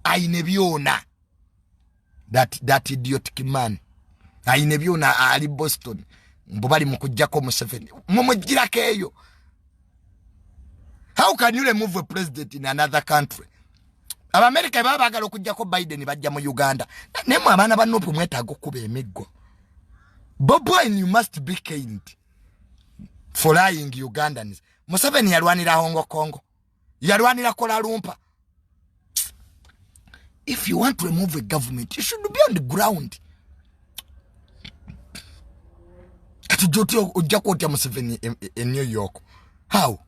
ayine byona that, that idiotic man ayine byona ali boston mbu bali mukujjako museveni mumujjirako eyo how can you remove a president in another country abamerica baba bagala okujjako biden bajja mu uganda naye mwe abaana ba nupu mwetaaga okuba emiggo bobwin you must be kind for lying ugandans museveni yalwanira hongo kongo yalwanira kola lumpa if you want to remove a government you should be on the ground kati joti ojja kwotya museveni e, e, e new york how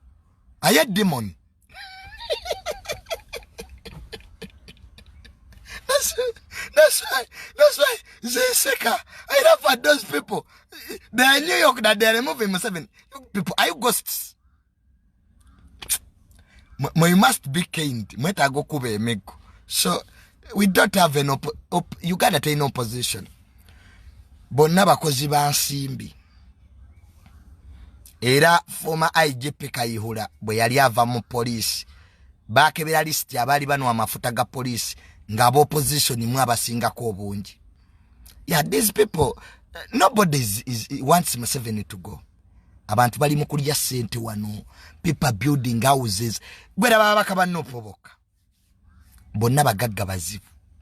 aye demon that's, that's why that's why zeseka i love for those people they are new york that they are removing museveni people are you ghosts you must be kind mwetaaga okuba emiggo so we don't have an op op uganda terina opposition bonna bakozi ba nsimbi era former igp kayihura bwe yali ava mu poliisi bakebera lisiti abaali banwa amafuta ga poliisi nga abaopposition mu abasingako obungi yeah these people nobody is, is, wants museveni to go abantu bali mu kulya sente wano people building houses gwera baba bakaba nopo bokka bonna bagagga bazibu